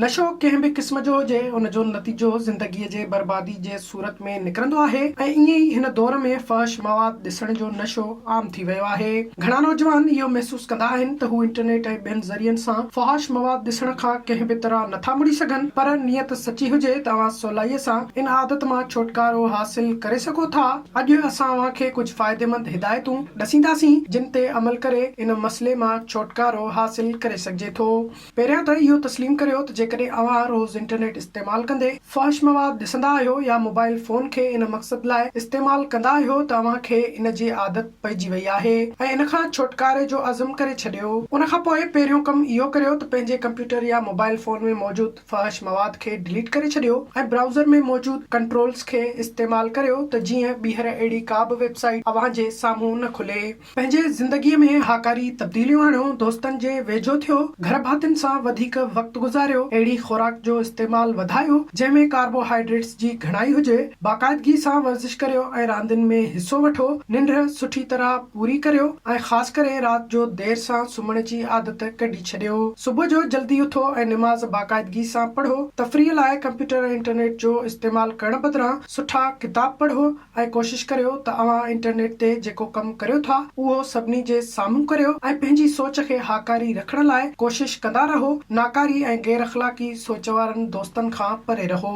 نشو ڪنهن به قسم جو هجي، ان جو نتيجو زندگيء جي بربادي جي صورت ۾ نڪرندو آهي ۽ ائين ئي هن دور ۾ فحش مواد ڏسڻ جو نشو عام ٿي ويو آهي. گهڻا نوجوان اهو محسوس ڪندا آهن ته هو انٽرنيٽ ۽ ٻين ذريعن سان فحش مواد ڏسڻ کان ڪنهن به طرح نٿا مڙي سگهن، پر نيت سچي هجي ته اوهان سولائيء سان ان عادت مان ڇوٽڪارو حاصل ڪري سگهو ٿا. اڄ اسان اوهان کي ڪجهه فائديمند هدايتون ڏسينداسين، جن تي عمل ڪري ان مسئلي مان ڇوٽڪارو حاصل ڪري سگهجي ٿو. پهريان ته اهو تسليم ڪريو ته جيڪڏهن اوهان روز انٽرنيٽ استعمال ڪندي فحش مواد ڏسندا آهيو يا موبائل فون کي ان مقصد لاء استعمال ڪندا آهيو ته اوهان کي ان جي عادت پئجي وئي آهي ۽ ان کان ڇوٽڪاري جو عزم ڪري ڇڏيو. ان کان پوء پهريون ڪم اهو ڪريو ته پنهنجي ڪمپيوٽر يا موبائل فون ۾ موجود فحش مواد کي ڊليٽ ڪري ڇڏيو ۽ برائوزر ۾ موجود ڪنٽرولز کي استعمال ڪريو ته جيئن ٻيهر اهڙي ڪا به ويب سائيٽ اوهان جي سامهون نه کلي. پنهنجي زندگيء ۾ هاڪاري تبديليون آڻيو، دوستن جي ويجهو ٿيو، گهر ڀاتين سان وڌيڪ وقت گذاريو، اهڙي خوراڪ جو استعمال وڌايو، جنهن ۾ ڪاربوهائيڊريٽس جي گهڻائي هجي، باقاعدگي سان ورزش ڪريو ۽ راندين ۾ حصو وٺو، ننڊ سٺي طرح پوري ڪريو ۽ خاص ڪري رات جو دير سان سمهڻ جي عادت ڪڍي ڇڏيو، صبح جو جلدي اٿو ۽ نماز باقاعدگي سان پڙهو، تفريح لاء ڪمپيوٽر ۽ انٽرنيٽ جو استعمال ڪرڻ بدران سٺا ڪتاب پڙهو ۽ ڪوشش ڪريو ته اوهان انٽرنيٽ تي جيڪو ڪم ڪريو ٿا اهو سڀني جي سامهون ڪريو ۽ پنهنجي سوچ کي هاڪاري رکڻ لاء ڪوشش ڪندا رهو، ناڪاري ۽ غير اخلاقي سوچ وارن دوستن کان پري رهو.